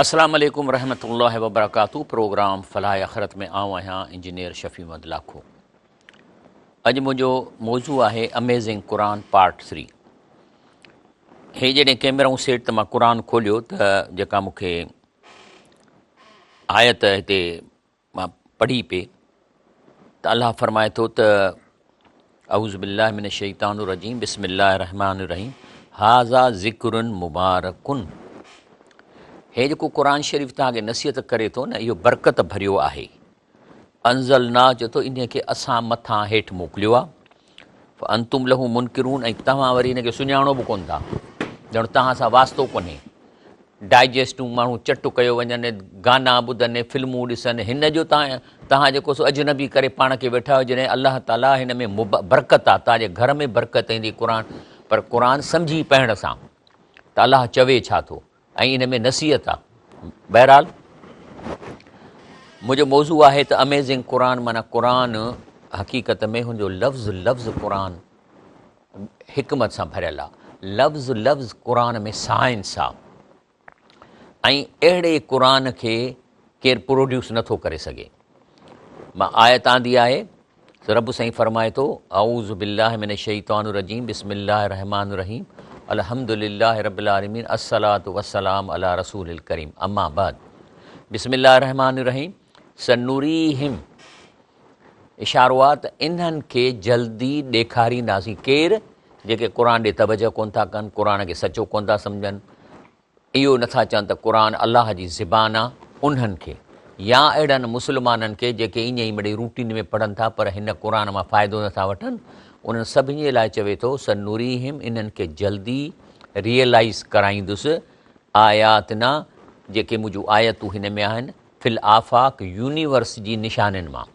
اسلام عليڪم ورحمة الله وبرڪاته پروگرام فلاح آخرت ۾ آئون آهيان انجنيئر شفيع محمد لاکو اڄ منهنجو موضوع آهي اميزنگ قرآن پارٽ ٿري هي جڏهن ڪيمرائون سيٽ ته مان قرآن کوليو ته جيڪا مونکي آيت هتي مان پڙهي پي ته الله فرمائي ٿو ته اعوذ بالله من الشيطان الرجيم بسم الله الرحمن الرحيم هاذا ذکر مبارڪن هي جيڪو قرآن شريف تان کي نصيحت ڪري ٿو نه اهو برڪت ڀريو آهي انزلنا چي ٿو ان کي اسان مٿان هيٺ موڪليو آهي فانتم له منکرون ۽ توهان وري ان کي سڃاڻو به ڪون ٿا ڄڻ توهان سان واسطو ڪونهي ڊائجسٽون ماڻهو چٽ ڪيو وڃن گانا ٻڌن فلمون ڏسن هن جو توهان توهان جيڪو سو اجنبي ڪري پاڻ کي ويٺا آهيو جڏهن الله تعالي هن ۾ برڪت آهي توهان جي گهر ۾ برڪت ايندي قرآن پر قرآن سمجهي پڙهڻ سان ته الله چوي ڇا ٿو ۽ ان ۾ نصيحت آ. بهرحال منهنجو موضوع آهي ته اميزنگ قرآن معنيٰ قرآن حقيقت ۾ هن جو لفظ لفظ قرآن حڪمت سان ڀريل آ لفظ لفظ قرآن ۾ سائنس آ ۽ اهڙي قرآن کي ڪير پروڊيوس نٿو ڪري سگهي مان آيت آندي آهي رب سائين فرمائي ٿو، اعوذ بالله من الشيطان الرجيم بسم الله الرحمٰن الرحيم الحمد لله رب العالمين الصلوة والسلام علي رسول الڪريم اما بعد بسم الله الرحمٰن الرحيم سنريهم اشاروات انهن کي جلدي ڏيکارينداسين ڪير جيڪي قرآن ڏي توجه ڪون ٿا ڪن قرآن کي سچو ڪون ٿا سمجهن اهو نه ٿا چون ته قرآن الله جي زبان آ، انهن کي، يا اهڙن مسلمانن کي جيڪي ايئن ئي مڙئي روٽين ۾ پڙهن ٿا پر هن قرآن مان فائدو نه ٿا وٺن، انهن سڀني لاء چوي ٿو، سنريهم انهن کي جلدي، Realize، ڪرائيندس، آياتنا، جيڪي منهنجون آيتون هن ۾ آهن، في الآفاق، يونيورس جي نشانين مان،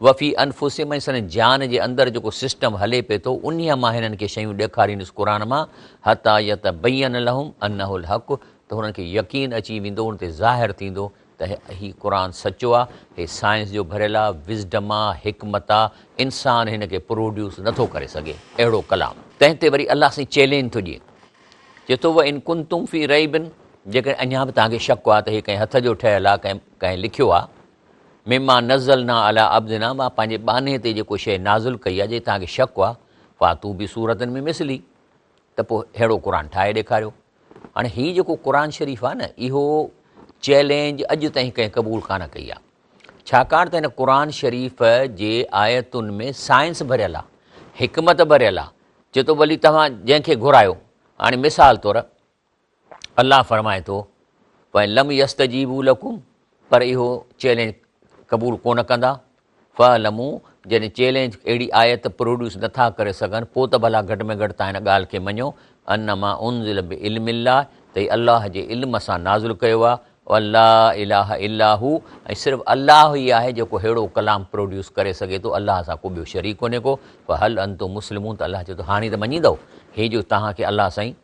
وفي انفسهم ۽ سندن جان جي اندر جيڪو سسٽم هلي پئي ٿو انهيء مان هنن کي شيون ڏيکاريندس قرآن مان حتٰي يتبين لهم انه الحق ته هنن کي يقين اچي ويندو ان تي ظاهر ٿيندو ته هي قرآن سچو آ هي سائنس جو ڀريل آ وزڊم آ حڪمت آ انسان هن کي پروڊيوس نه ٿو ڪري سگهي اهڙو ڪلام. تنهن تي وري الله سائين چئلينج ٿو ڏئي چئي ٿو وان ڪنتم في ريب جيڪڏهن اڃا به توهان کي شڪ آ ته هي ڪنهن هٿ جو ٺهيل آ ڪنهن لکيو آ مما نزلنا علي عبدنا مان پنهنجي ٻانهي تي جيڪو شيء نازل ڪئي آهي جي توهان کي شڪ آهي فاتو بي سورتن من مثلي ته پوء ههڙو قرآن ٺاهي ڏيکاريو. هاڻي هي جيڪو قرآن شريف آهي نه اهو چئلينج اڄ تائين ڪنهن قبول ڪانه ڪئي آهي ڇاڪاڻ ته هن قرآن شريف جي آيتن ۾ سائنس ڀريل آهي حڪمت ڀريل آهي چي ٿو ڀلي توهان جنهن کي گهرايو هاڻي مثال طور الله فرمائي ٿو، فإن لم يستجيبوا لكم پر اهو چئلينج قبول ڪونه ڪندا، فاعلموا جڏهن چئلينج اهڙي آيت پروڊيوس نه ٿا ڪري سگهن پوء ته ڀلا گهٽ ۾ گهٽ توهان ان ڳالهه کي مڃو انما انزل بعلم الله ته هي الله جي علم سان نازل ڪيو آهي ولا اله الا هو ۽ صرف الله ئي آهي جيڪو ههڙو ڪلام پروڊيوس ڪري سگهي ٿو الله سان ڪو ٻيو شريڪ ڪونهي ڪو فهل انتم مسلمون ته الله چئي ٿو هاڻي ته مڃيندؤ هي جو توهان کي الله سائين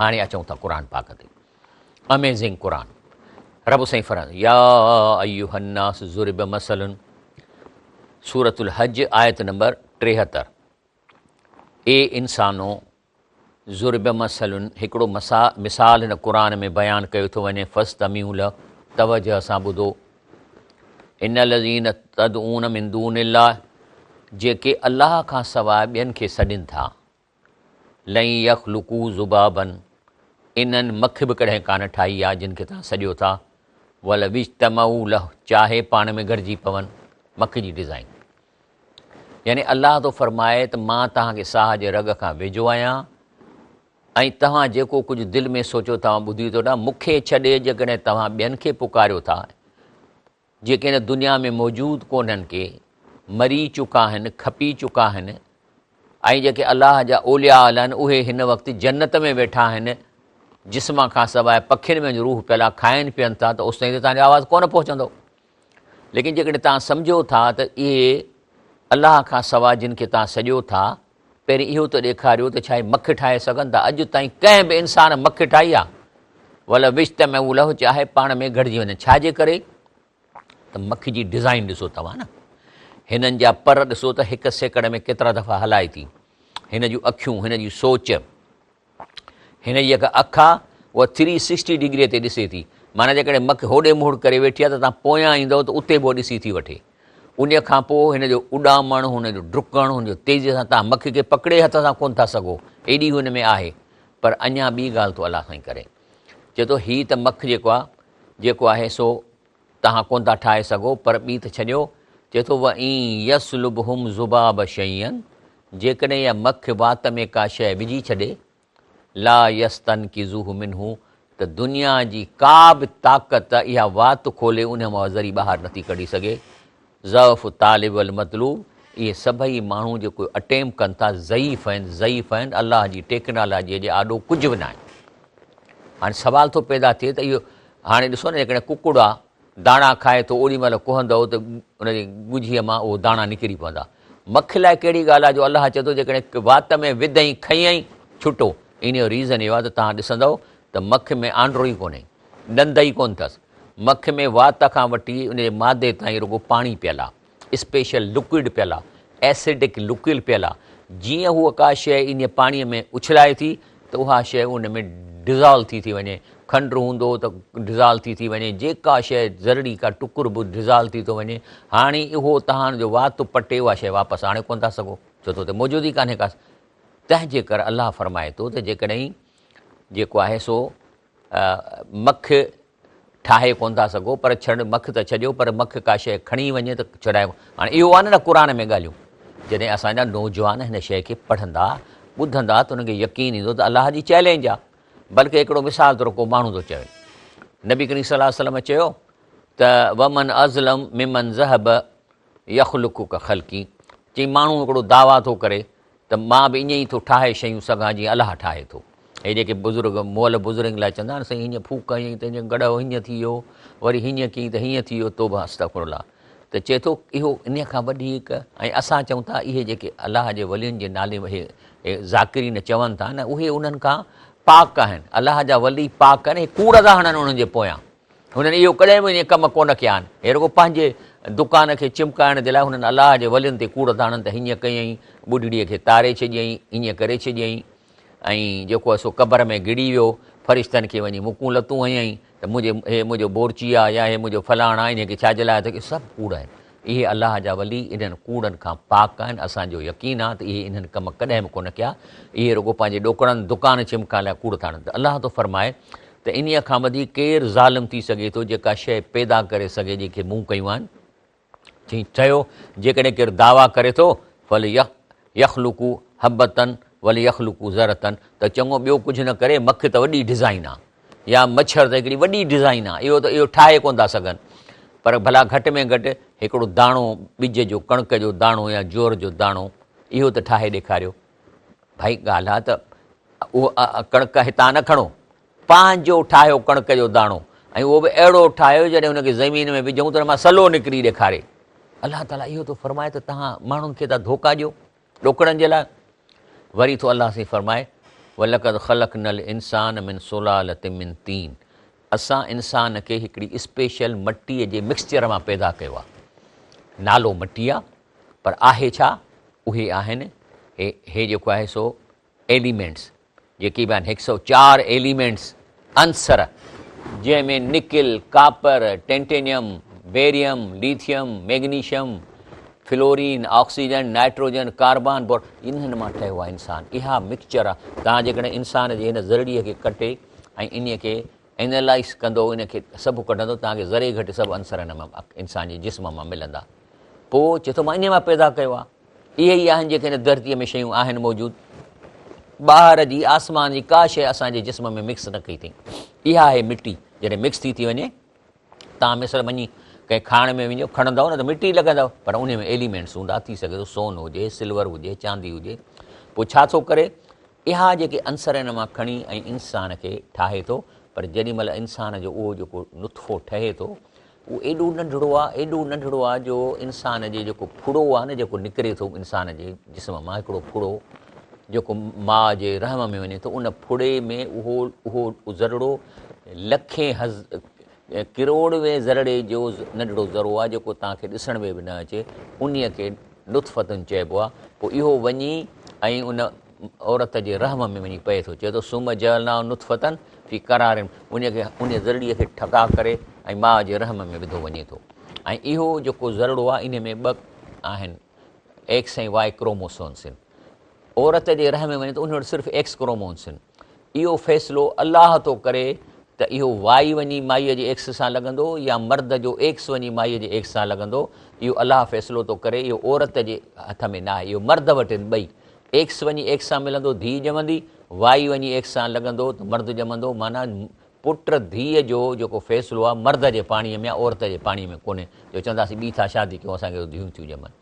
هاڻي اچون ٿا قرآن پاڪ تي اميزنگ قرآن رب سائين فران يا ايها الناس ضرب مثل سورت الحج آيت نمبر 73 اي انسانو ضرب مثل هڪڙو مثال هن قرآن ۾ بيان ڪيو ٿو وڃي فاستمعوا له توجه سان ٻڌو ان الذين تدعون من دون الله جيڪي الله کان سواء ٻين کي سڏين ٿا لن يخلقو ذبابا انهن مک به ڪڏهن ڪانه ٺاهي آ جن کي توهان سڏيو ٿا ولو اجتمعو له چاهي پاڻ ۾ گڏجي پون مک جي ڊزائين يعني الله ٿو فرمائي ته مان توهان کي ساهه جي رڳ کان ويجهو آهيان ۽ توهان جيڪو ڪجهه دل ۾ سوچو ٿا ٻڌي ٿو ڏا مکي ڇڏي جيڪڏهن توهان ٻين کي پڪاريو ٿا جيڪي هن دنيا ۾ موجود ڪونهن ڪي مري چڪا هن کپي چڪا هن ۽ جيڪي الله جا اولياء الهن اهي هن وقت جنت ۾ ويٺا هن جسم کان سواء پکين ۾ روح پيلا کائن پين ٿا ته اوس تائين ته تنهنجو آواز ڪونه پهچندو ليڪن جيڪڏهن توهان سمجهو ٿا ته اهي الله کان سواء جن کي توهان سڏيو ٿا پهرين اهو ته ڏيکاريو ته ڇا هي مک ٺاهي سگهن ٿا؟ اڄ تائين ڪنهن به انسان مک ٺاهي آهي؟ ولو اجتمعوا له چاهي پاڻ ۾ گهڙجي وڃن. ڇا جي ڪري ته مک جي ڊزائين ڏسو توهان نه هنن جا پر ڏسو ته هڪ سيڪڙ ۾ ڪيترا دفعا هلائي ٿي. هن جون اکيون، هن جي سوچ. هن جي جيڪا اک آ اها ٿري سڪسٽي ڊگريء تي ڏسي ٿي. معنيٰ جيڪڏهن مک هوڏي مهڙ ڪري ويٺي آ ته توهان پويان ايندؤ ته اتي به اها ڏسي ٿي وٺي. انهيء کان پوء هن جو اڏامڻ، هن جو ڊڪڻ، هن جو تيزيء سان توهان مک کي پڪڙي هٿ سان ڪونه ٿا سگهو، ايڏي هو هن ۾ آهي. پر اڃا ٻي ڳالهه ٿو الله سائين ڪري. چئي ٿو هي ته مک جيڪو آ، جيڪو آهي سو توهان ڪونه ٿا ٺاهي سگهو پر ٻي ته ڇڏيو، چئي ٿو، وئن يسلبهم ذباب شيئا جيڪڏهن اها مک وات ۾ ڪا شيء وجهي ڇڏي، لا يستنقذوه منه ته دنيا جي ڪا به طاقت اها وات کولي انهيء مان ذري ٻاهر نٿي ڪڍي سگهي. ضعف الطالب والمطلوب اهي سڀئي ماڻهو جيڪو اٽيمپ ڪن ٿا ضعيف آهن ضعيف آهن الله جي ٽيڪنالاجيء جي آڏو ڪجهه به ناهن هاڻي سوال ٿو پيدا ٿئي ته اهو هاڻي ڏسو نه جيڪڏهن ڪڪڙ آ داڻا کائي ٿو اوڏي مهل ڪهندو ته ان جي ڳجهيء مان اهو داڻا نڪري پوندا مک لاء ڪهڙي ڳالهه آ جو الله چئي ٿو جيڪڏهن وات ۾ وڌئين کئيئين ڇٽو ان جو ريزن اهو آ ته توهان ڏسندؤ ته مک ۾ آنڊرو ئي ڪونهي ڏند ئي ڪونه ٿس مک ۾ وات کان وٺي ان جي معدي تائين رڳو پاڻي پيل آ، اسپيشل لڪوئڊ پيل آ، ايسڊڪ لڪوئل پيل آ، جيئن هوء ڪا شيء انهيء پاڻيء ۾ اڇلائي ٿي ته اها شيء ان ۾ ڊزالو ٿي ٿي وڃي، کنڊ هوندو ته ڊزالو ٿي ٿي وڃي، جيڪا شيء زرڙي ڪا ٽڪر به ڊزالو ٿي ٿو وڃي، هاڻي اهو تهان جو وات پٽي اها شيء واپس آڻي ڪونه ٿا سگهو، ڇو ته اتي موجود ئي ڪانهي ڪا، تنهنجي ڪر الله فرمائي ٿو ته جيڪڏهن جيڪو آهي سو مک ٺاهي ڪونه ٿا سگهو پر ڇڙ مک ته ڇڏيو پر مک ڪا شيء کڻي وڃي ته ڇڏايو هاڻي اهو آهن نه قرآن ۾ ڳالهيون جڏهن اسان جا نوجوان هن شيء کي پڙهندا ٻڌندا ته انهن کي يقين ايندو ته الله جي چئلينج آهي بلڪه هڪڙو مثال طور ڪو ماڻهو ٿو چوي نبي ڪريم صلي الله عليه وسلم چيو ته ومن ازلم ممن ذهب يخلقك خلقي چي ماڻهو هڪڙو دعويٰ ٿو ڪري ته مان به ائين ئي ٿو ٺاهي شيون سگهان جيئن الله ٺاهي ٿو. هي جيڪي بزرگ مئل بزرگ لاء چوندا آهن سائين هينئن ڦوڪ هنئين ته هينئن گڙهه هينئن ٿي ويو وري هينئن ڪيئين ته هينئن ٿي ويو توبه استغفر الله ته چئي ٿو اهو انهيء کان وڏي هڪ ۽ اسان چئون ٿا اهي جيڪي الله جي ولين جي نالي اهي ذاڪرين چون ٿا نه اهي انهن کان پاڪ آهن الله جا ولي پاڪ آهن هي ڪوڙ ٿا هڻن انهن جي پويان هنن اهو ڪڏهن به ايئن ڪم ڪونه ڪيا آهن. هي رڳو پنهنجي دڪان کي چمڪائڻ جي لاء هنن الله جي ولين تي ڪوڙ ٿا هڻن ته هيئن ڪيئين، ٻڍڙيء کي تاري ڇڏيئين، هيئن ڪري ڇڏيئين ۽ جيڪو آهي سو قبر ۾ گڙي ويو، فرشتن کي وڃي مڪون لتون هنيائين ته منهنجي هي منهنجو بورچي آهي يا هي منهنجو فلاڻ آهي انهيء کي ڇا جي لاء ٿو ڪري سڀ ڪوڙ آهن. اهي الله جا ولي انهن ڪوڙن کان پاڪ آهن، اسان جو يقين آهي ته اهي انهن ڪم ڪڏهن به ڪونه ڪيا، اهي رڳو پنهنجي ڏوڪڙن دڪان چمڪائڻ لاء ڪوڙ ٿا هڻن ته الله ٿو فرمائي ته انهيء کان وڌيڪ ڪير ظالم ٿي سگهي ٿو، جيڪا شيء پيدا ڪري سگهي جنهن کي مون ڪيون آهن؟ چيائين، چيو، جيڪڏهن ڪير دعويٰ ڪري ٿو، فليخلقو حبة وليخلقو ذرة، ته چڱو ٻيو ڪجهه نه ڪري، مک ته وڏي ڊزائين آهي، يا مڇر ته هڪڙي وڏي ڊزائين آهي، اهو ته اهو ٺاهي ڪونه ٿا سگهن، پر ڀلا گهٽ ۾ گهٽ هڪڙو داڻو ٻج جو، ڪڻڪ جو داڻو يا جوئر جو داڻو، اهو ته ٺاهي ڏيکاريو. ڀائي ڳالهه آ ته اها ڪڻڪ هتان نه کڻو، پنهنجو ٺاهيو ڪڻڪ جو داڻو ۽ اهو به اهڙو ٺاهيو جڏهن ان کي زمين ۾ وجهون ته ان مان سلو نڪري ڏيکاري. الله تعاليٰ اهو ٿو فرمائي ته توهان ماڻهن کي ٿا ڌوڪا ڏيو ڏوڪڙن جي لاء. وري ٿو الله سائين فرمائي، ولقد خلقنا الانسان من سلالة من طين اسان انسان کي هڪڙي اسپيشل مٽيء جي مڪسچر مان پيدا ڪيو آ. نالو مٽي آ. پر آهي ڇا؟ اهي آهن هي هي جيڪو آهي سو ايليمينٽس جيڪي به آهن هڪ سئو چار ايليمينٽس عنصر جنهن ۾ nickel, copper, titanium, barium, lithium, magnesium, fluorine, oxygen, nitrogen, carbon, bore انهن مان ٺهيو آهي انسان اها مڪسچر آهي توهان جيڪڏهن انسان جي هن ذرڙي کي ڪٽي ۽ انهي کي انالائيس ڪندو ان کي سڀ ڪڍندو تان کي ذري گهٽ سڀ عنصر ان مان انسان جي جسم مان ملندا پو چي ٿو مان انهي مان پيدا ڪيو آ اهي ئي آهن جيڪي هن ڌرتي ۾ شيون آهن موجود ٻاهر جي آسمان جي ڪا شيء اسان جي جسم ۾ مڪس نه ڪئي ٿئي اها آهي مٽي جڏهن مڪس ٿي ٿي وڃي توهان مصر وڃي ڪنهن کاڻ ۾ وڃو، کڻندؤ نه ته مٽي لڳندؤ، پر انهي ۾ ايليمينٽس هوندا، ٿي سگهي ٿو سون هجي، سلور هجي، چاندي هجي، پوء ڇا ٿو ڪري، اها جيڪي عنصر ان مان کڻي ۽ انسان کي ٺاهي ٿو، پر جيڏي مهل انسان جو اهو جيڪو نطفو ٺهي ٿو، اهو ايڏو ننڍڙو آ، ايڏو ننڍڙو آ جو انسان جي جيڪو ڦڙو آ نه جيڪو نڪري ٿو انسان جي جسم مان هڪڙو ڦڙو جيڪو ماء جي رحم ۾ وڃي ٿو، ان ڦڙي ۾ اهو اهو ذرڙو لکين ڪروڙوين ذرڙي جو ننڍڙو ذرو آهي جيڪو توهان کي ڏسڻ ۾ به نه اچي انهي کي نطفتن چئبو آهي پوء اهو وڃي ۽ ان عورت جي رحم ۾ وڃي پئي ٿو چئي ٿو سوم جعلنا نطفتن في قرار انهي کي انهي ذرڙي کي ٺڪاء ڪري ۽ ماء جي رحم ۾ وڌو وڃي ٿو ۽ اهو جيڪو ذرڙو آهي انهي ۾ ٻه آهن ايڪس ۽ واء ڪروموسومس آهن عورت جي رحم ۾ وڃي ته ان وٽ صرف ايڪس ڪرومونس آهن اهو فيصلو الله ٿو ڪري ته اهو وائي وڃي مائيء جي ايڪس سان لڳندو يا مرد جو ايڪس وڃي مائيء جي ايڪس سان لڳندو اهو الله فيصلو ٿو ڪري اهو عورت جي هٿ ۾ ناهي اهو مرد وٽ آهن ٻئي ايڪس وڃي ايڪس سان ملندو ڌيء ڄمندي وائي وڃي ايڪس سان لڳندو ته مرد ڄمندو معنيٰ پٽ ڌيء جو جيڪو فيصلو آهي مرد جي پاڻي ۾ عورت جي پاڻي ۾ ڪونهي جو چونداسي ٻي ٿا شادي ڪيون اسان کي ڌيون ٿيون ڄمن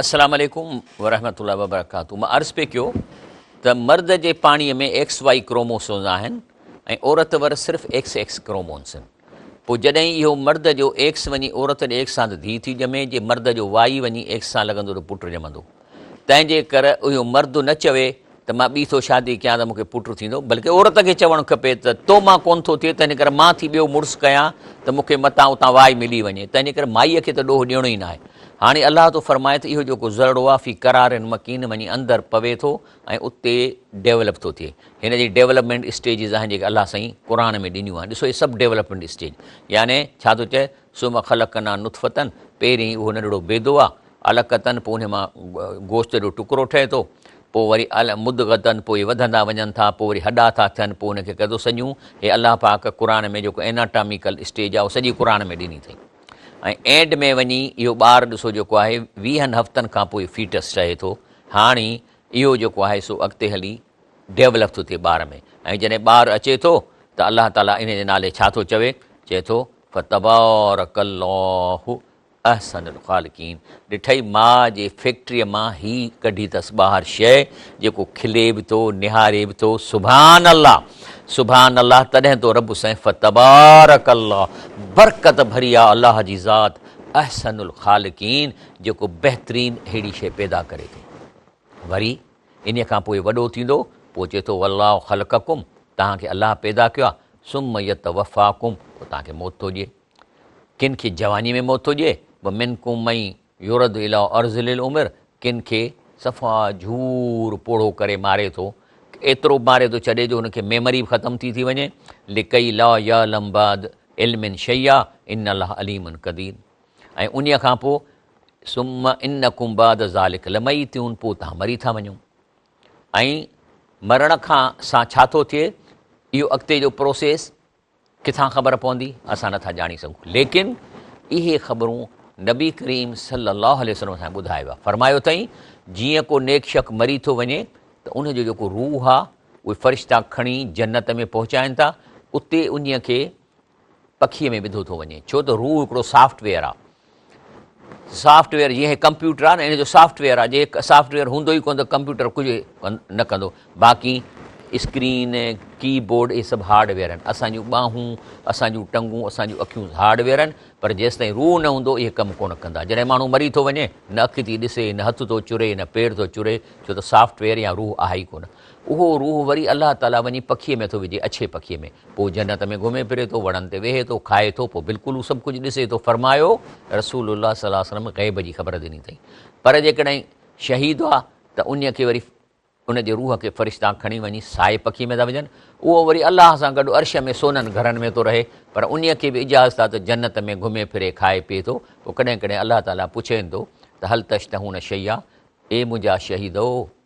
السلام عليڪم ورحمة الله وبرڪاته مان عرض پئي ڪيو ته مرد جي پاڻي ۾ ايڪس وائي ڪروموسونز آهن ۽ عورت ور صرف ايڪس ايڪس ڪرومونسن پوء جڏهن اهو مرد جو ايڪس وڃي عورت ڏي ايڪس سان ته ڌي ٿي ڄمي جي مرد جو وائي وڃي ايڪس سان لڳندو ته پٽ ڄمندو تنهن جي ڪر اهو مرد نه چوي ته مان ٻي ٿو شادي ڪيان ته مون کي پٽ ٿيندو، بلڪه عورت کي چوڻ کپي ته تو مان ڪونه ٿو ٿئي، تنهن ڪري مان ٿي ٻيو مڙس ڪيان ته مون کي متان اتان واء ملي وڃي، تنهن ڪري مائيء کي ته ڏوهه ڏيڻو ئي ناهي. هاڻي الله ٿو فرمائي ته اهو جيڪو ذرڙو آهي في قرار مڪين وڃي اندر پوي ٿو ۽ اتي ڊيولپ ٿو ٿئي. هن جي ڊيولپمينٽ اسٽيجز آهن جيڪي الله سائين قرآن ۾ ڏنيون آهن، ڏسو هي سڀ ڊيولپمينٽ اسٽيج يعني ڇا ٿو چئي ثم خلقنا نطفة پهرين اهو ننڍڙو بيدو آ، علقة پوء ان مان گوشت جو ٽڪرو ٺهي ٿو، پوء وري مضغة پوء اهي وڌندا وڃن ٿا، پوء وري هڏا ٿا ٿين، پوء ان کي ڪيو ٿو سڄون، هي الله پاڪ قرآن ۾ جيڪو Anatomical اسٽيج آ اهو سڄي قرآن ۾ ڏني اٿئي ۽ اينڊ ۾ وڃي اهو ٻار ڏسو جيڪو آهي ويهن هفتن کان پوء فيٽس چهي ٿو هاڻي اهو جيڪو آهي سو اڳتي هلي ڊيولپ ٿو ٿئي ٻار ۾ ۽ جڏهن ٻار اچي ٿو ته الله تعالي ان جي نالي ڇا ٿو چوي چئي ٿو فتبارک الله احسن الخالقين ڏٺئي ماء جي فيڪٽري مان هي ڪڍي تس ٻاهر شئي جيڪو کلي به ٿو نهاري به ٿو سبحان الله سبحان الله تڏهن تو رب سائين فتبارک الله برڪت ڀري آ الله جي ذات احسن الخالقين جيڪو بهترين هيڙي شئي پيدا ڪري ٿو وري انهيء کان پوء وڏو ٿيندو، پوء چئي ٿو، والله خلقکم، توهان کي الله پيدا ڪيو آهي، ثم يتوفاکم، پوء توهان کي موت ٿو ڏئي. ڪن کي جوانيء ۾ موت ٿو ڏئي، ومنڪم من يرد اليٰ ارذل العمر، ڪن کي صفا جهور پوڙهو ڪري ماري ٿو، ايترو ماري ٿو ڇڏي جو هن کي ميمري به ختم ٿي ٿي وڃي، لڪي لا يعلم بعد علم شيئا ان الله عليم قدير. ۽ انهيء کان پوء ثم انڪم بعد ذلک لميتون پوء توهان مري ٿا وڃو ۽ مرڻ کان سان ڇا ٿو ٿئي اهو اڳتي جو پروسيس ڪٿان خبر پوندي اسان نٿا ڄاڻي سگهون ليڪن اهي خبرون نبي ڪريم صلي الله عليه وسلم اسان ٻڌايو آهي فرمايو اٿئي جيئن ڪو نيڪ شخص مري ٿو وڃي ته ان جو جيڪو روح آهي اهي فرشتا کڻي جنت ۾ پهچائن ٿا اتي انهيء کي پکيء ۾ وڌو ٿو وڃي ڇو ته روح هڪڙو سافٽ ويئر آ سافٽ ويئر جيئن هي ڪمپيوٽر آ نه ان جو سافٽ ويئر آ جي سافٽ ويئر هوندو ئي ڪونه ته ڪمپيوٽر ڪجهه نه ڪندو باقي اسڪرين ڪي بورڊ اهي سڀ هارڊ ويئر آهن اسان جون ٻانهون اسان جون ٽنگون اسان جون اکيون هارڊ ويئر آهن پر جيستائين روح نه هوندو اهي ڪم ڪونه ڪندا جڏهن ماڻهو مري ٿو وڃي نه اک ٿي ڏسي نه هٿ ٿو چري نه پير ٿو چري ڇو ته سافٽ ويئر يا روح آهي ئي ڪونه اهو روح وري الله تعاليٰ وڃي پکيء ۾ ٿو وجهي، اڇي پکيء ۾، پوء جنت ۾ گهمي ڦري ٿو، وڻن تي ويهي ٿو، کائي ٿو، پوء بلڪل هو سڀ ڪجهه ڏسي ٿو. فرمايو، رسول الله صلي الله عليه وسلم غيب جي خبر ڏني اٿئي، پر جيڪڏهن شهيد هئا ته انهيء کي وري ان جي روح کي فرشتا کڻي وڃي سائي پکيء ۾ ٿا وجهن، اهو وري الله سان گڏ عرش ۾ سونن گهرن ۾ ٿو رهي، پر انهيء کي به اجازت آهي ته جنت ۾ گهمي ڦري، کائي پيئي ٿو، پوء ڪڏهن ڪڏهن الله تعاليٰ پڇين ٿو ته هل تشتهون شيئا، اي منهنجا شهيدؤ!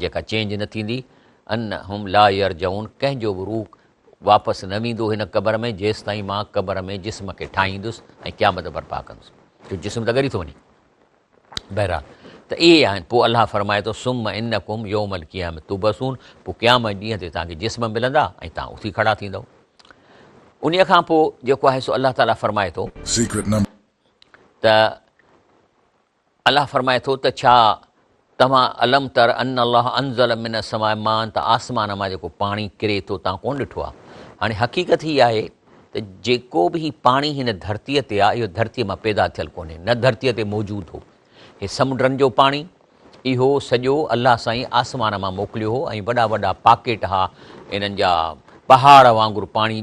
جيڪا چينج نه ٿيندي، ان هم لا يرجعون ڪنهن جو به روح واپس نه ويندو هن قبر ۾ جيستائين مان قبر ۾ جسم کي ٺاهيندس ۽ قيامت برپا ڪندس جو جسم ته ڳري ٿو وڃي بهرحال ته اهي آهن پوء الله فرمائي ٿو سم انڪم يوم القيام تبسون پوء قيامت ڏينهن تي توهان کي جسم ملندا ۽ توهان اٿي کڙا ٿيندو ان کان پوء جيڪو آهي سو الله تعاليٰ فرمائي ٿو ته الله فرمائي ٿو ته ڇا توهان الم تر ان الله انزل من السماء ماء ته آسمان مان جيڪو پاڻي ڪري ٿو توهان ڪونه ڏٺو آهي هاڻي حقيقت هي آهي ته جيڪو به هي پاڻي هن ڌرتيء تي آهي اهو ڌرتيء مان پيدا ٿيل ڪونهي نه ڌرتيء تي موجود هو هي سمنڊن جو پاڻي اهو سڄو الله سائين آسمان مان موڪليو هو ۽ وڏا وڏا پاڪيٽ ها انهن جا پهاڙ وانگر پاڻي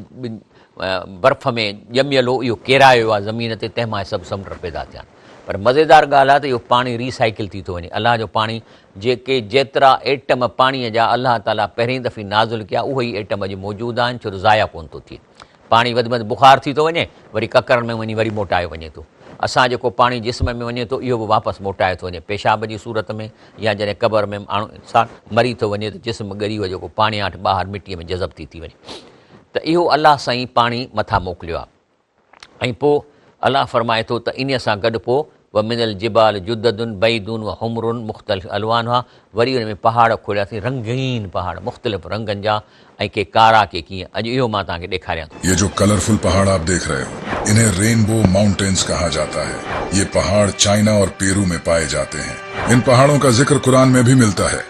برف ۾ ڄميل هو اهو ڪيرايو آهي زمين تي تنهن مان سڀ سمنڊ پيدا ٿيا آهن پر مزيدار ڳالهه آهي ته اهو پاڻي ري سائيڪل ٿي ٿو وڃي. الله جو پاڻي، جيڪي جيترا ايٽم پاڻيء جا الله تعاليٰ پهرين دفعي نازل ڪيا، اهي ئي ايٽم اڄ موجود آهن، ڇو ته ضايع ڪونه ٿو ٿئي. پاڻي وڌ مند بخار ٿي ٿو وڃي، وري ڪڪرن ۾ وڃي وري موٽايو وڃي ٿو. اسان جيڪو پاڻي جسم ۾ وڃي ٿو، اهو به واپس موٽايو ٿو وڃي، پيشاب جي صورت ۾ يا جڏهن قبر ۾ ماڻهو، انسان، مري ٿو وڃي ته جسم ڳري اهو جيڪو پاڻياٺ ٻاهر مٽيء ۾ جذب ٿي ٿي وڃي. ته اهو الله سائين پاڻي مٿان موڪليو آهي. ۽ پوء الله فرمائي ٿو ته انهيء سان گڏ پوء ومن الجبال جدد بيض وحمر مختلف الوانها وري ان ۾ پهاڙ کولياسين رنگين پهاڙ مختلف رنگن جا ۽ ڪي ڪارا ڪي ڪيئن اڄ اهو مان توهان کي ڏيکاريان ٿو. يي جو ڪلرفل پهاڙ آپ ديکھ رهي هو انهي رينبو مائونٽينس ڪها جاتا هي يي پهاڙ چائنا اور پيرو مين پائي جاتي هين ان پهاڙون ڪا ذڪر قرآن مين بهي ملتا هي.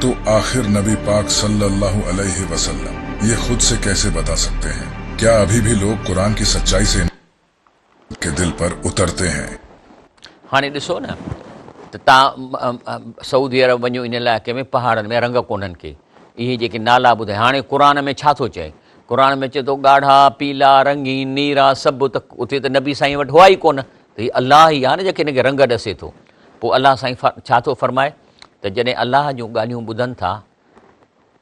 تو آخر نبي پاڪ صلّي اللّٰه عليه وسلّم يي خود سي ڪيسي بتا سڪتي هين؟ ڪيا ابھي بھي لوگ قرآن ڪي سچّائي سي انڪار ڪي دل پر اترتي هين؟ هاڻي ڏسو نه ته تان سعودي عرب وڃو ان علائقي ۾ پهاڙن ۾ رنگ ڪونهن ڪي اهي جيڪي نالا ٻڌايا هاڻي قرآن ۾ ڇا ٿو چئي قرآن ۾ چئي ٿو ڳاڙها پيلا رنگين نيرا سڀ ته اتي ته نبي سائين وٽ هئا ئي ڪونه ته هي الله ئي آهي نه جيڪي هن کي رنگ ڏسي ٿو پوء الله سائين ڇا ٿو فرمائي ته جڏهن الله جون ڳالهيون ٻڌن ٿا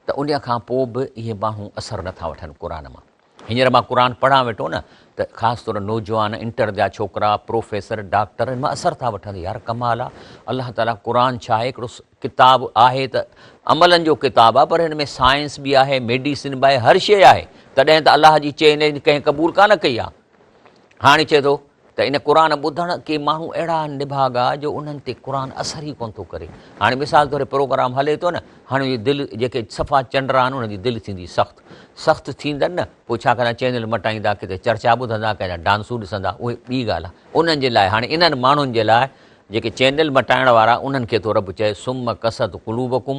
ته ان کان پوء به اهي ماڻهو اثر نه ٿا وٺن قرآن مان. هينئر مان قرآن پڙهان ويٺو نه ته خاص طور نوجوان، انٽر جا ڇوڪرا، پروفيسر، ڊاڪٽر ان مان اثر ٿا وٺن. يار ڪمال آ. الله تعاليٰ قرآن ڇا آهي هڪڙو ڪتاب آهي ته عملن جو ڪتاب آ پر هن ۾ سائنس به آهي، ميڊيسن به آهي هر شيء آهي تڏهن ته الله جي چئي نه ڪنهن قبول ڪانه ڪئي آ. هاڻي چئي ٿو ته ان قرآن ٻڌڻ ڪي ماڻهو اهڙا آهن نڀاڳا جو انهن تي قرآن اثر ئي ڪونه ٿو ڪري. هاڻي مثال طور هي پروگرام هلي ٿو نه، هاڻي اهي دل جيڪي صفا چنڊرا آهن انهن جي دل ٿيندي سخت. سخت ٿيندن نه، پوء ڇا ڪندا چينل مٽائيندا، ڪٿي چرچا ٻڌندا، ڪنهن جا ڊانسون ڏسندا، اهي ٻي ڳالهه آهي. انهن جي لاء هاڻي انهن ماڻهن جي لاء جيڪي چينل مٽائڻ وارا انهن کي ٿو رب چئي صم قصت قلوبڪم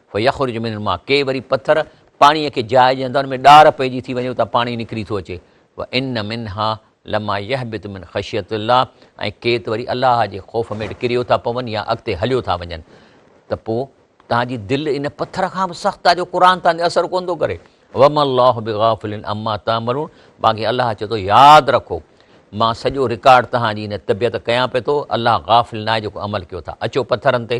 فيخرج من الماء ڪي وري پٿر پاڻيء کي جاء ڏيندا ان ۾ ڏار پئجي ٿي وڃي اتان پاڻي نڪري ٿو اچي وان منها لما يهبط من خشيت الله ۽ ڪي ته وري الله جي خوف ميڊ ڪريو ٿا پون يا اڳتي هليو ٿا وڃن ته پو تان جي دل ان پٿر کان به سخت آ جو قرآن تان تي اثر ڪون ٿو ڪري وم الله بغافل اما تعملون باقي الله چي ٿو ياد رکو مان سڄو رڪارڊ تهان جي ان طبيعت ڪيان پي ٿو الله غافل ناهي جيڪو عمل ڪيو ٿا اچو پٿرن تي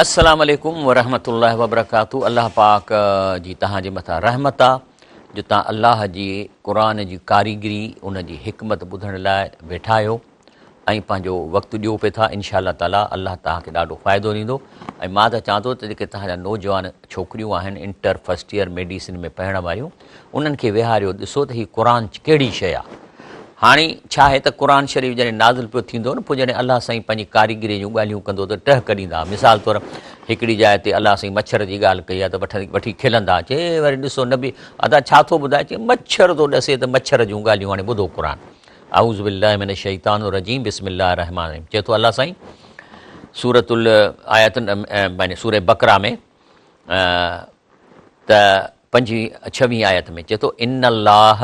السلام عليڪم ورحمة الله وبرڪاته الله پاڪ جي تهان جي مٿان رحمت آ جو تهان الله جي قرآن جي ڪاريگري ان جي حڪمت ٻڌڻ لاء ويٺا آهيو ۽ پنهنجو وقت ڏيو پي ٿا انشاء الله تعالي الله تهان کي ڏاڍو فائدو ڏيندو ۽ مان ته چوان ٿو ته جيڪي تهان جا نوجوان ڇوڪريون آهن انٽر فرسٽ ايئر ميڊيسن ۾ پڙهڻ واريون انهن کي ويهاريو ڏسو ته هي قرآن ڪهڙي شيء آ. هاڻي ڇا آهي ته قرآن شريف جڏهن نازل پيو ٿيندو نه پوء جڏهن الله سائين پنهنجي ڪاريگريء جون ڳالهيون ڪندو ته ٽهڪ ڏيندا. مثال طور هڪڙي جاء تي الله سائين مڇر جي ڳالهه ڪئي آ ته وٺي کلندا چي وري ڏسو نبي ادا ڇا ٿو ٻڌائي چي مڇر ٿو ڏسي ته مڇر جون ڳالهيون هاڻي ٻڌو قرآن اعوذ بالله من الشيطان الرجيم بسم الله الرحمن الرحيم چي ٿو الله سائين سورت ال آيات سورة بقره ۾ ته پنجين ڇوين آيت ۾ چئي ٿو ان الله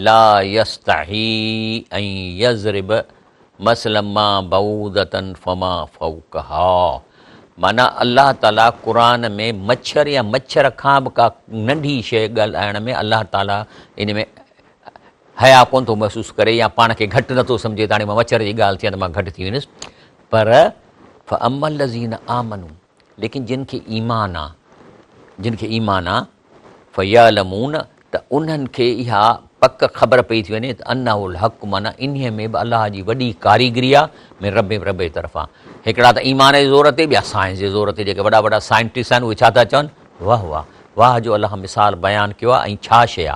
لا يستحي ان يضرب مثلا ما بعودة فما فوقها معنيٰ الله تعالي قرآن ۾ مڇر يا مڇر کان به ڪا ننڍي شيء ڳالهائڻ ۾ الله تعالي ان ۾ حيا ڪونه ٿو محسوس ڪري يا پاڻ کي گهٽ نٿو سمجهي ته هاڻي مان مڇر جي ڳالهه ٿي ته مان گهٽ ٿي ويندس پر فعمل الذين آمنوا ليڪن جن کي ايمان آ، جن کي ايمان آ، فيعلمون ته انهن کي اها پڪ خبر پئي ٿي وڃي ته انه الحق معنيٰ انهيء ۾ به الله جي وڏي ڪاريگري آ من ربهم رب جي طرفان هڪڙا ته ايمان جي زور تي ٻيا سائنس جي زور تي جيڪي وڏا وڏا سائنٽسٽ آهن اهي ڇا ٿا چون واه واه واه جو الله مثال بيان ڪيو آ ۽ ڇا شيء آ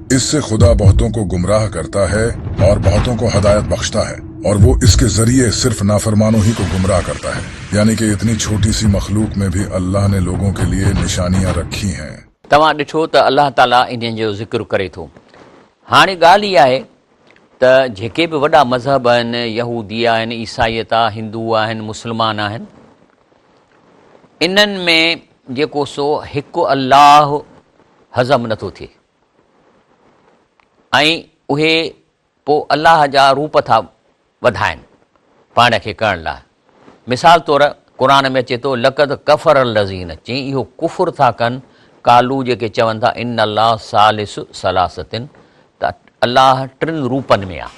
اس سے خدا بهتون کو گمراهه ڪرتا هي اور بهتون کو هدايت بخشتا هي اور وو اس ڪي ذريعي صرف نافرمانو هي کو گمراهه ڪرتا هي يعني ڪي اتني ڇوٽي سي مخلوق مين بهي الله ني لوگون ڪي ليي نشانيان رکي هين. توهان ڏٺو ته الله تعالي انهن جو ذڪر ڪري ٿو. هاڻي ڳالهه هي آهي ته جيڪي به وڏا مذهب آهن، يهودي آهن، عيسائيت آ، هندو آهن، مسلمان آهن، انهن ۾ جيڪو سو هڪ الله هضم نٿو ٿئي. ۽ اهي پوء الله جا روپ ٿا وڌائن پاڻ کي ڪرڻ لاء. مثال طور قرآن ۾ اچي ٿو لقد ڪفر الذين چي اهو ڪفر ٿا ڪن قالو جيڪي چون ٿا ان الله ثالث ثلاثه ته الله ٽن روپن ۾ آ.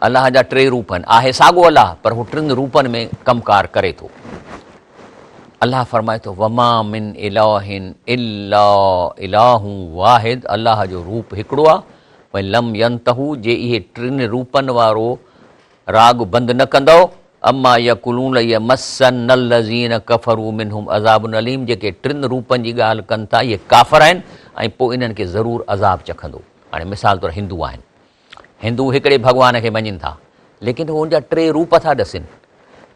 الله جا ٽي روپ آهن، آهي ساڳو الله پر هو ٽن روپن ۾ ڪم ڪار ڪري ٿو. الله فرمائي ٿو، وما من اله الا اله واحد الله جو روپ هڪڙو آهي وان لم ينتهو جي اهي ٽن روپن وارو راڳ بند نه ڪندؤ عما يقولون ليمسن الذين ڪفروا منهم عذاب اليم جيڪي ٽن روپن جي ڳالهه ڪن ٿا اهي ڪافر آهن ۽ پوء انهن کي ضرور عذاب چکندو. هاڻي مثال طور هندو آهن. هندو هڪڙي ڀڳوان کي مڃين ٿا، ليڪن هو ان جا ٽي روپ ٿا ڏسين،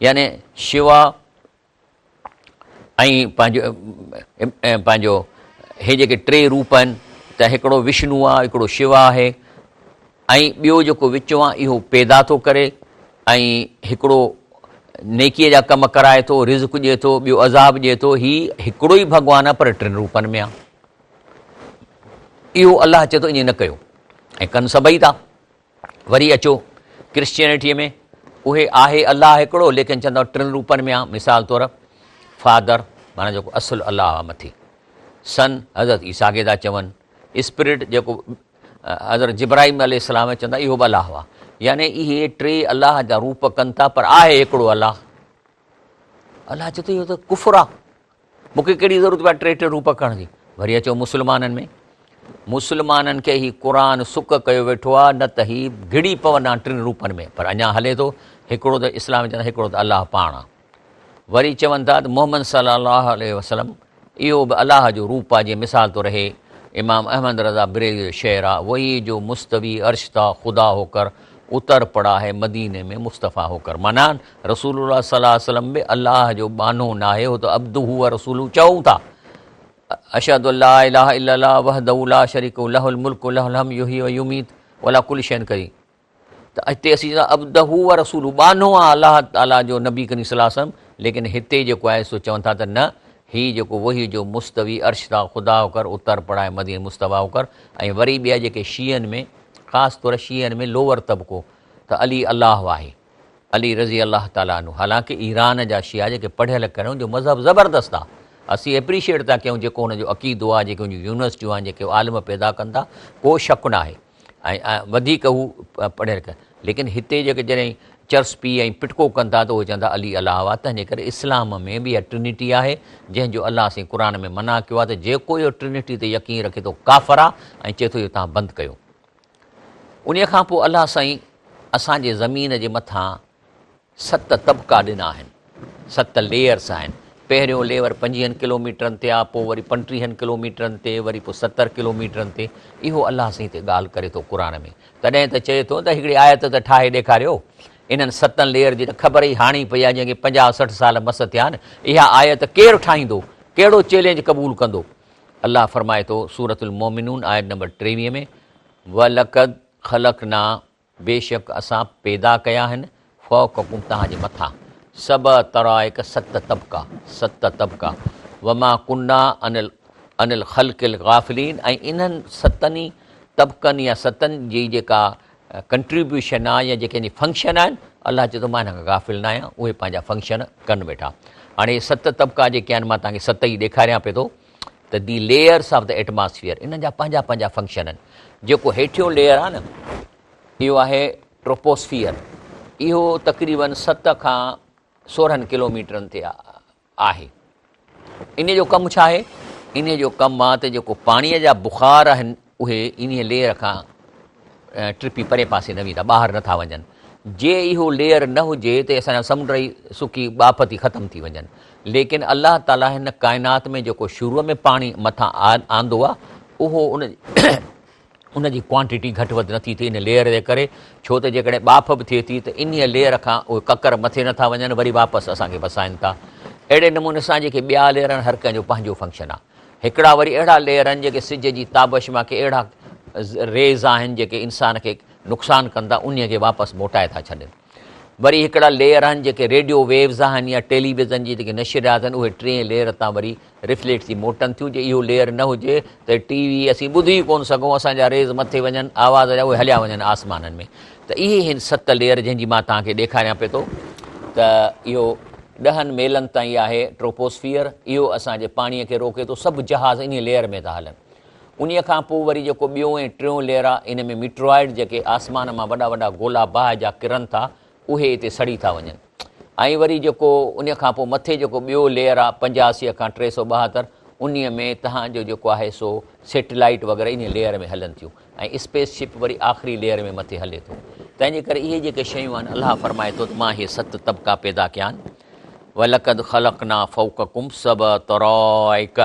يعني شوا ۽ پنهنجو پنهنجو هي جيڪي ٽي روپ آهن ته هڪڙو وشنو آهي، هڪڙو شوا آهي ۽ ٻيو جيڪو وچون آهي اهو پيدا ٿو ڪري ۽ هڪڙو نيڪيء جا ڪم ڪرائي ٿو، رزق ڏئي ٿو، ٻيو عذاب ڏئي ٿو، هي هڪڙو ئي ڀڳوان آهي پر ٽن روپن ۾ آهي. اهو الله چي ٿو ائين نه ڪيو ۽ ڪن سڀئي ٿا وري اچو ڪرسچينٽي ۾ اهي آهي الله هڪڙو ليڪن چون ٿا ٽن روپن ۾ آ مثال طور فادر مانا جيڪو اصل الله آ مٿي سن حضرت عيسا کي ٿا چون اسپريٽ جيڪو حضرت جبرائيم علي السلام چون ٿا اهو به الله هئا يعني اهي ٽي الله جا روپ ڪن ٿا پر آهي هڪڙو الله الله چي ٿو اهو ته ڪفر آ مون کي ڪهڙي ضرورت پيا ٽي ٽي روپ ڪرڻ جي وري اچو مسلمانن ۾ مسلمانن کي هي قرآن سڪ ڪيو ويٺو آ نه ته هي گهڙي پوندا ٽن روپن ۾ پر اڃا هلي ٿو هڪڙو ته اسلام چون هڪڙو ته الله پاڻ آ وري چون ٿا ته محمد صلي الله عليه وسلم اهو به الله جو روپ آ جي مثال تو رهي امام احمد رضا بريلوي جو شعر آ وهي جو مستوي عرش ٿا خدا هو ڪر اتر پڙا هي مديني ۾ مصطفيٰ هو ڪر معنيٰ رسول الله صلي الله عليه وسلم به الله جو ٻانهو ناهي هو ته عبده و رسوله چئون ٿا اشهد ان لا اله الا الله وحده لا شريڪ له الملڪ و له الحمد يحيي و يميت وعلى كل شيء قدير ته هتي اسين چئون ٿا عبده ورسوله ٻانهو آهي الله تعالي جو نبي ڪريم صلي الله عليه وسلم ليڪن هتي جيڪو آهي سو چون ٿا ته نه هي جيڪو وحي جو مستوي عرش تان خدا هوڪر اتر پڙائي مديني مصطفيٰ هوڪر ۽ وري ٻيا جيڪي شيعن ۾ خاص طور شيعن ۾ لوور طبقو ته علي الله آهي علي رضي الله تعالي عنه حالانڪه ايران جا شيعا جيڪي پڙهيل ڪريون جو مذهب زبردست آهي اسين اپريشيئيٽ ٿا ڪيون جيڪو هن جو عقيدو آهي جيڪي هن جون يونيورسٽيون آهن جيڪي عالم پيدا ڪن ٿا ڪو شڪ ناهي ۽ وڌيڪ هو پڙهيل ڪن ليڪن هتي جيڪي جڏهن چرسپي ۽ پٽڪو ڪن ٿا ته اهي چون ٿا علي الله آهي تنهنجي ڪري اسلام ۾ به اها ٽرنٽي آهي جنهن جو الله سائين قرآن ۾ منع ڪيو آهي ته جيڪو اهو ٽرنٽي تي يقين رکي ٿو ڪافر آهي ۽ چئي ٿو جو تان بند ڪيو انهي کان پوء الله سائين اسان جي زمين جي مٿان ست طبقا ڏنا آهن، ست ليئرس آهن، پهريون ليور پنجيهن ڪلوميٽرن تي آ، پوء وري پنٽيهن ڪلوميٽرن تي، وري پوء ستر ڪلوميٽرن تي، اهو الله سائين تي ڳالهه ڪري ٿو قرآن ۾، تڏهن ته چئي ٿو ته هڪڙي آيت ته ٺاهي ڏيکاريو، انهن ستن ليئر جي ته خبر ئي هاڻي پئي آ جنهن کي پنجاهه سٺ سال مس ٿيا آهن، اها آيت ڪير ٺاهيندو، ڪهڙو چئلينج قبول ڪندو، الله فرمائي ٿو سورة المومنون آيت نمبر ٽيويهه ۾، ولقد خلقنا بيشڪ اسان پيدا ڪيا آهن فوقڪم توهان جي مٿان سبع طرائق ست طبقا، ست طبقا، وما ڪنا عن عن الخلق الغافلين ۽ انهن ستن ئي طبقن يا ستن جي جيڪا ڪنٽريبيوشن آهي يا جيڪي ان جي فنڪشن آهن الله چئي ٿو مان انهن کان غافل نه آهيان اهي پنهنجا فنڪشن ڪن ويٺا. هاڻي هي ست طبقا جيڪي آهن مان توهان کي ست ئي ڏيکاريان پئي ٿو. ته the layers of the atmosphere انهن جا پنهنجا پنهنجا فنڪشن آهن جيڪو هيٺيون ليئر آهي نه اهو آهي ٽروپوسفيئر اهو تقريبن ست کان سورهن ڪلوميٽرن تي آهي ان جو ڪم ڇا آهي ان جو ڪم آهي ته جيڪو پاڻيء جا بخار آهن اهي انهيء ليئر کان ٽپي پرئين پاسي نه ويندا، ٻاهر نه ٿا وڃن. جي اهو ليئر نه هجي ته اسان جا سمنڊ ئي سڪي ٻاڦ ٿي ختم ٿي وڃن. ليڪن الله تعاليٰ هن ڪائنات ۾ جيڪو شروع ۾ پاڻي مٿان آندو آهي اهو ان جي ڪوانٽيٽي گهٽ وڌ نه ٿي ٿئي ان ليئر جي ڪري ڇو ته جيڪڏهن ٻاڦ به ٿئي ٿي ته انهيء ليئر کان اهي ڪڪر مٿي نه ٿا وڃن وري واپس اسان کي وسائن ٿا. اهڙي نموني سان جيڪي ٻيا ليئر آهن هر ڪنهن جو پنهنجو فنڪشن آهي. هڪڙا وري اهڙا ليئر آهن جيڪي سج جي تابش مان ڪي اهڙا ريز آهن جيڪي انسان کي نقصان ڪن ٿا انهي کي واپس موٽائي ٿا ڇڏين وري هڪڙا ليئر آهن جيڪي ريڊيو ويوز آهن يا ٽيلي ويزن جي جيڪي نشريات آهن اهي ٽئين ليئر تان وري رفليٽ ٿي موٽن ٿيون جي اهو ليئر نه هجي ته ٽي وي اسين ٻڌي ئي ڪون سگهون اسان جا ريز مٿي وڃن آواز جا اهي هليا وڃن آسمانن ۾ ته اهي هن ست ليئر جنهن جي مان توهان کي ڏيکاريان پئي ٿو ته اهو ڏهن ميلن تائين آهي ٽروپوسفيئر اهو اسان جي پاڻي کي روڪي ٿو سڀ جهاز انهي ليئر ۾ ٿا هلن انهي کان پوء وري جيڪو ٻيو ۽ ٽيون ليئر آهي ان ۾ ميٽرائيڊ جيڪي آسمان مان وڏا وڏا گولا باهه جا ڪرن ٿا اهي اتي سڙي ٿا وڃن. ۽ وري جيڪو انهي کان پوء مٿي جيڪو ٻيو ليئر آ پنجاهه سيء کان ٽي سؤ ٻاهتر انهي ۾ تهان جو جيڪو آهي سو سيٽلائيٽ وغيره انهي ليئر ۾ هلن ٿيون ۽ اسپيس شپ وري آخري ليئر ۾ مٿي هلي ٿو تنهن جي ڪري اهي جيڪي شيون آهن الله فرمائي ٿو ته مان اهي ست طبقا پيدا ڪيا آهن ولقد خلقنا فوقكم سبع طرائق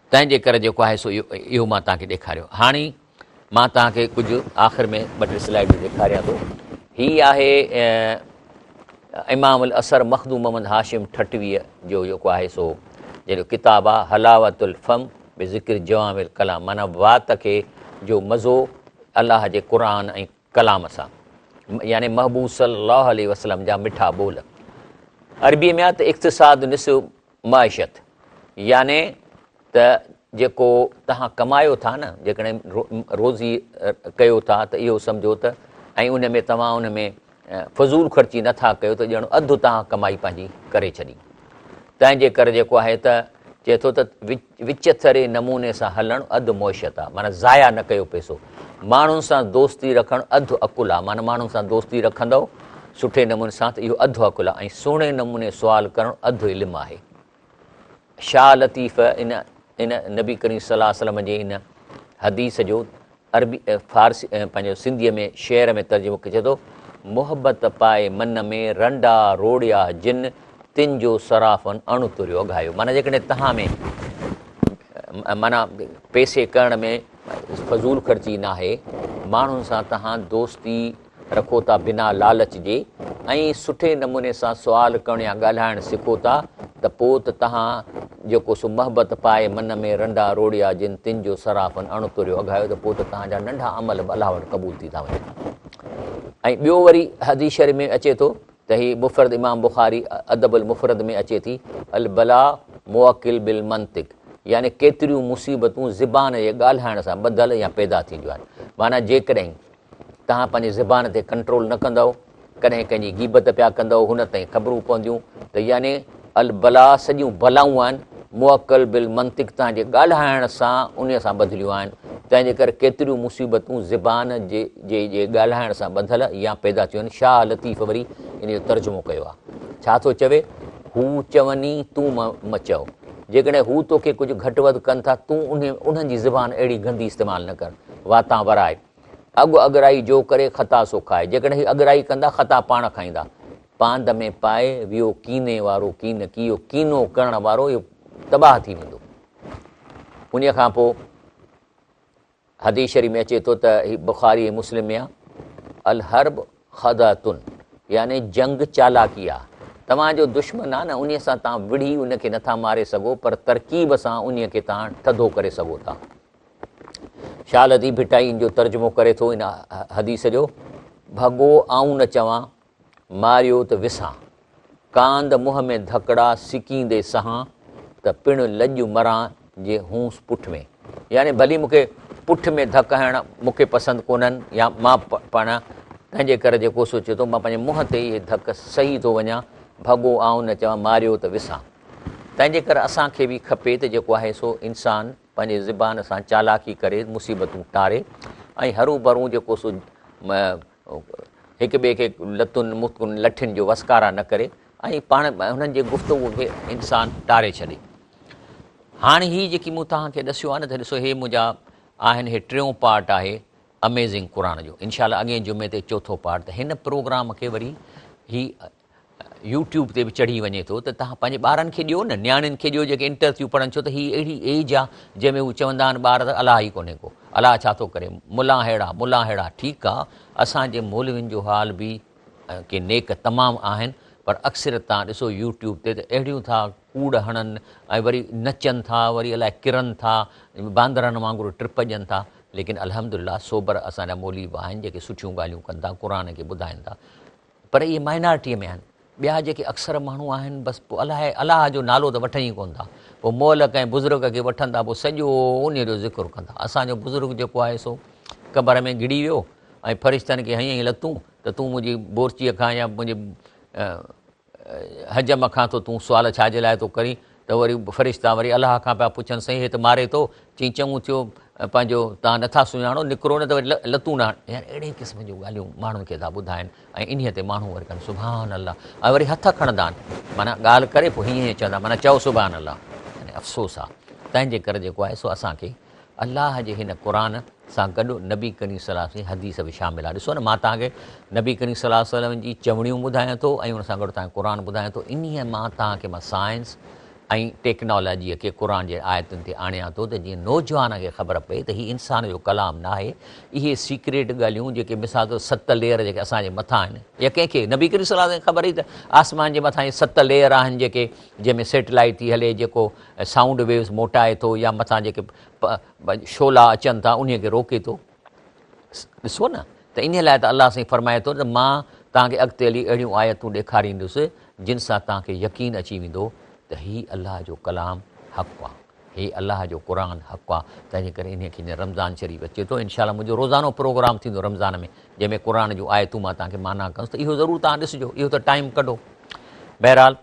تنهن جي ڪري جيڪو آهي سو اهو مان توهان کي ڏيکاريو. هاڻي مان توهان کي ڪجهه آخر ۾ ٻه ٽي سلائيڊون ڏيکاريان ٿو. هي آهي امام الاثر مخدوم محمد هاشم ٺٽويء جو جيڪو آهي سو جنهن جو ڪتاب آهي حلاوة الفم بذڪر جوامع الڪلام معنيٰ وات کي جو مزو الله جي قرآن ۽ ڪلام سان يعني محبوب صلي الله عليه وسلم جا مٺا ٻول عربي ۾ آ ته اقتصاد نصف معيشت يعني ته جيڪو تهان ڪمايو ٿا نه جيڪڏهن روزي ڪيو ٿا ته اهو سمجهو ته ۽ ان ۾ توهان ان ۾ فضول خرچي نٿا ڪيو ته ڄڻ اڌ تهان ڪمائي پنهنجي ڪري ڇڏي تنهن جي ڪري جيڪو آهي ته چئي ٿو ته وچٿري نموني سان هلڻ اڌ معشيت آهي، معنيٰ ضايع نه ڪيو پئسو. ماڻهن سان دوستي رکڻ اڌ عقل آهي، معنيٰ ماڻهن سان دوستي رکندؤ سٺي نموني سان ته اهو اڌ عقل آهي ۽ سهڻي نموني سوال ڪرڻ اڌ علم آهي. شاهه لطيف ان ان نبي ڪريم صلي الله عليه وسلم جي ان حديث جو عربي، فارسي ۽ پنهنجو سنڌيء ۾ شعر ۾ ترجمو ڪري چئي ٿو، محبت پائي من ۾، رنڊا روڙيا جن، تن جو صرافن اڻ تريو اگهايو. معنيٰ جيڪڏهن توهان ۾ معنيٰ پئسي ڪرڻ ۾ فضول خرچي ناهي، ماڻهن سان توهان دوستي رکو ٿا بنا لالچ جي ۽ سٺي نموني سان سوال ڪرڻ يا ڳالهائڻ سکو ٿا ته پوء ته تهان جيڪو سو محبت پائي من ۾ رنڊا روڙيا جن تن جو صرافن اڻ تريو اگهايو ته پوء ته تهان جا ننڍا عمل به الله وٽ قبول ٿي ٿا وڃن ۽ ٻيو وري حديث شريف ۾ اچي ٿو ته هي مفرد امام بخاري ادب المفرد ۾ اچي ٿي البلا موکل بالمنطق يعني ڪيتريون مصيبتون زبان جي ڳالهائڻ سان ٻڌل يا پيدا ٿينديون آهن معنيٰ جيڪڏهن توهان پنهنجي زبان تي ڪنٽرول نه ڪندؤ، ڪڏهن ڪنهن جي غيبت پيا ڪندؤ، هن تائين خبرون پونديون ته يعني البلا سڄيون بلائون آهن، موڪل بالمنطق توهان جي ڳالهائڻ سان انهي سان ٻڌليون آهن، تنهن جي ڪري ڪيتريون مصيبتون زبان جي جي جي ڳالهائڻ سان ٻڌل يا پيدا ٿيون آهن، شاهه لطيف وري انهي جو ترجمو ڪيو آهي، ڇا ٿو چوي، هو چوني تون م چئو، جيڪڏهن هو توکي ڪجهه گهٽ وڌ ڪن ٿا تون انهن جي زبان اهڙي گندي استعمال نه ڪر، واتان ورائي. اڳ اڳرائي جو ڪري، خطا سو کائي. جيڪڏهن هي اڳرائي ڪندا، خطا پاڻ کائيندا. پاند ۾ پائي ويو ڪيني وارو ڪين، ڪيو ڪينو ڪرڻ وارو اهو تباهه ٿي ويندو. انهيء کان پوء حديث شريف ۾ اچي ٿو ته هي بخاري ۽ مسلم ۾ آهي الحرب خدعتن يعني جنگ چالاڪي آهي. توهان جو دشمن آهي نه انهيء سان توهان وڙهي ان کي نٿا ماري سگهو پر ترڪيب سان انهيء کي توهان ٿڌو ڪري سگهو ٿا. شال اديب ڀٽائي ان جو ترجمو ڪري ٿو ان حديث جو ڀڳو آئون نه چوان ماريو ته وسان ڪاند منهن ۾ ڌڪڙا سڪيندي سهان ته پڻ لڄ مران جي هونس پٺ ۾ يعني ڀلي مونکي پٺ ۾ ڌڪ هڻ مونکي پسند ڪونهن يا مان پاڻ تنهنجي ڪري جيڪو سوچي ٿو مان پنهنجي منهن تي اهي ڌڪ سهي ٿو وڃان ڀڳو آئون نه چوان ماريو ته وسان تنهنجي ڪري اسان کي به کپي ته جيڪو آهي سو انسان پنهنجي زبان سان چالاڪي ڪري مصيبتون ٽاري ۽ هروڀرو جيڪو سو هڪ ٻئي کي لتن متڪن لٺين جو وسڪارا نه ڪري ۽ پاڻ هنن جي گفتگو کي انسان ٽاري ڇڏي هاڻي هي جيڪي مون توهان کي ڏسيو آهي نه ته ڏسو هي منهنجا آهن هي ٽيون پارٽ آهي اميزنگ قرآن جو انشاء الله اڳئين جمعي تي چوٿو پارٽ ته هن پروگرام کي وري هي يوٽيوب تي به چڙهي وڃي ٿو ته توهان پنهنجي ٻارن کي ڏيو نه نياڻين کي ڏيو جيڪي انٽر ٿيون پڙهن ڇو ته هي اهڙي ايج آ جنهن ۾ هو چوندا آهن ٻار ته الاهه ئي ڪونهي ڪو الاهه ڇا ٿو ڪري ملان ههڙا ملان ههڙا ٺيڪ آ اسان جي مولوين جو حال به ۽ ڪي نيڪ تمام آهن پر اڪثريت توهان ڏسو يوٽيوب تي ته اهڙيون ٿا ڪوڙ هڻن ۽ وري نچن ٿا وري الائي ڪرن ٿا باندرن وانگر ٽپ ڏين ٿا ليڪن الحمدلله سوبر اسان جا مولوي به آهن جيڪي سٺيون ڳالهيون ڪن ٿا قرآن کي ٻڌائين ٿا پر اهي مائنارٽيء ۾ آهن. ٻيا جيڪي اڪثر ماڻهو آهن، بس پوء الاهي الاهه جو نالو ته وٺن ئي ڪونه ٿا. پوء مئل ڪنهن بزرگ کي وٺن ٿا، پوء سڄو انهيء جو ذڪر ڪندا. اسان جو بزرگ جيڪو آهي سو قبر ۾ گڙي ويو ۽ فرشتن کي هنيائين لتون ته تون منهنجي بورچيء کان يا منهنجي حجم کان ٿو تون سوال ڇا جي لاء ٿو ڪرين؟ ته وري فرشتا وري الله کان پيا پڇن سائين هي ته ماري ٿو، چئين چڱو ٿيو پنهنجو تان نٿا سڃاڻو نڪرو نه ته وري لتون نه هڻ يار اهڙي قسم جون ڳالهيون ماڻهن کي ٿا ٻڌائن ۽ انهي تي ماڻهو وري ڪن سبحان الله ۽ وري هٿ کڻندا آهن معنيٰ ڳالهه ڪري پوء هيئن هيئن چوندا معنيٰ چئو سبحان الله يعني افسوس آ تنهنجي ڪري جيڪو آهي سو اسان کي الله جي هن قرآن سان گڏ نبي ڪريم صلي الله عليه وسلم جي حديث به شامل آهي ڏسو نه مان توهان کي نبي ڪريم صلي الله عليه وسلم جي چوڻيون ٻڌايان ٿو ۽ ان سان گڏ توهان کي قرآن ٻڌايان ٿو انهيء مان توهان کي مان سائنس ۽ ٽيڪنالاجيء کي قرآن جي آيتن تي آڻيان ٿو ته جيئن نوجوانن کي خبر پئي ته هي انسان جو ڪلام ناهي اهي سيڪريٽ ڳالهيون جيڪي مثال طور ست ليئر جيڪي اسان جي مٿان آهن يا ڪنهن کي نبي ڪريم صلي الله عليه وسلم کي خبر هئي ته آسمان جي مٿان هي ست ليئر آهن جيڪي جنهن ۾ سيٽلائيٽ ٿي هلي جيڪو سائونڊ ويوز موٽائي ٿو يا مٿان جيڪي شعلا اچن ٿا انهي کي روڪي ٿو ڏسو نه ته انهي لاء ته الله سائين فرمائي ٿو ته مان توهان کي اڳتي هلي اهڙيون آيتون ڏيکاريندس جن سان توهان کي يقين اچي ويندو ته هي الله جو ڪلام حق آ هي الله جو قرآن حق آ تنهنجي ڪري انهي کي جيئن رمضان شريف اچي ٿو انشاء الله منهنجو روزانو پروگرام ٿيندو رمضان ۾ جنهن ۾ قرآن جون آيتون مان توهان کي معنيٰ ڪندس ته اهو ضرور توهان ڏسجو اهو ته ٽائيم ڪڍو بهرحال